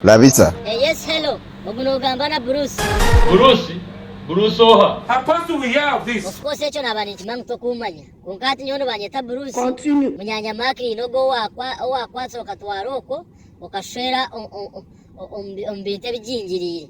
Labisa. Eh yes hello ogu nogamba na Bruce. Bruce? Bruce oha? How come do we hear of this? Of course ekyo naba ninkimanya ngu tokumanya. Kwonka hati nyowe nibanyeta Bruce. Continue. Munyanya Mark nyine ogu owakwatsire okatwara okwo okashushera omu bintu ebigingiriire.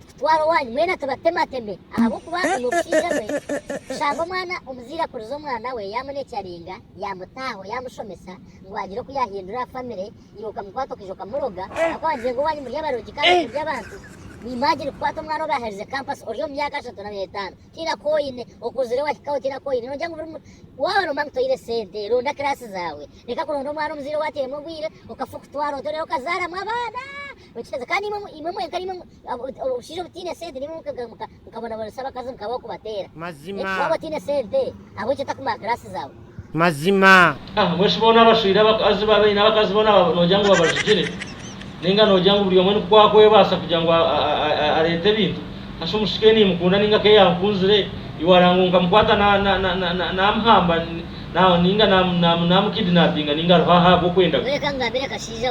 Tikutwara owanyu mwena tubatemateme ahabw'okuba oine omushaija gwe, kushanga omwana omuzaire akurize omwana we yaamuneekyaringa, yaamutaaho, yaamushomesa ngu haagire oku yaahindura aha famire, iwe okamukwata okaija okamuroga ahabw'okuba waagiire ngu owanyu muri abarogi kandi murya abantu. Imagine kukwata omwana ou baaherize kampasi ori omu myaka ashatu nari etaano tihaine aku oine, okuzire wahikaho tihaine aku oine noogira ngu buri muntu, waaba noba ngu toire sente ronda kiraasi zaawe, reka kuronda omwana omuzaire ou atairemu obwire okafa okutwara ota reero okazaaramu abaana. Nokibaza kandi imwe mwenka obushaija obutaine sente nimwe mukabonabonesya abakazi mukabaho kubateera waaba otaine sente ahabwekyo otakumaa class zaawe. Mazima. Ahabw'enki boona abashwire abakazi baaba baine abakazi boona nogira ngu babajugire? Nainga nogira ngu buri omwe ni ku akwebaasa kugira ngu areete ebintu? Hashi omushiki we nimukunda nainga ku eyaankunzire iwe araagira ngu nkamukwata naamuhamba nainga naamukidinapinga nainga aroho aha ahabw'okwenda kwe? Reka ngamire akashaija.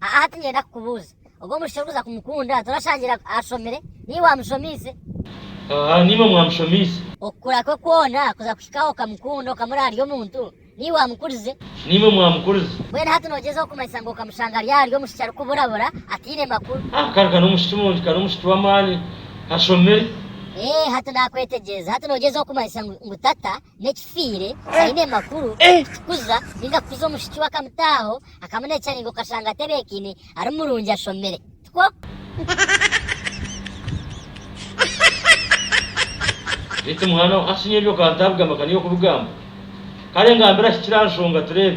Aha hati niinyenda kukubuuza, ogwo mwishiki orikuza kumukunda torashangira ashomire? Niiwe waamushomiise? Haa, niinwe mwamushomiise. Okukura kwe kwona kuza kuhika ahu okamukunda okamurora ari omuntu? Niiwe waamukurize? Niinwe mwaamukurize. Mbwenu hati noogyezaho kumanyisa ngu okamushanga ari ari omwishiki arikuburabura, ataine makuru? Haa, kare ka n'omwishiki murungi, ka n'omwishiki w'amaani, ashomire. Eeh, hati naakwetegyereza. Hati noogyezaho kumanyisa ngu tata n'ekifiire aine amakuru kukuza ninga kukuza omushiki we akamutaaho akamunecaringa okashanga atebeekaine ari murungi ashomire tikwo? Beitu mwana wa Asinye ebyo ka ntabigamba ka niiwe okubigamba kare ngambira hikire aha nshonga tureebe.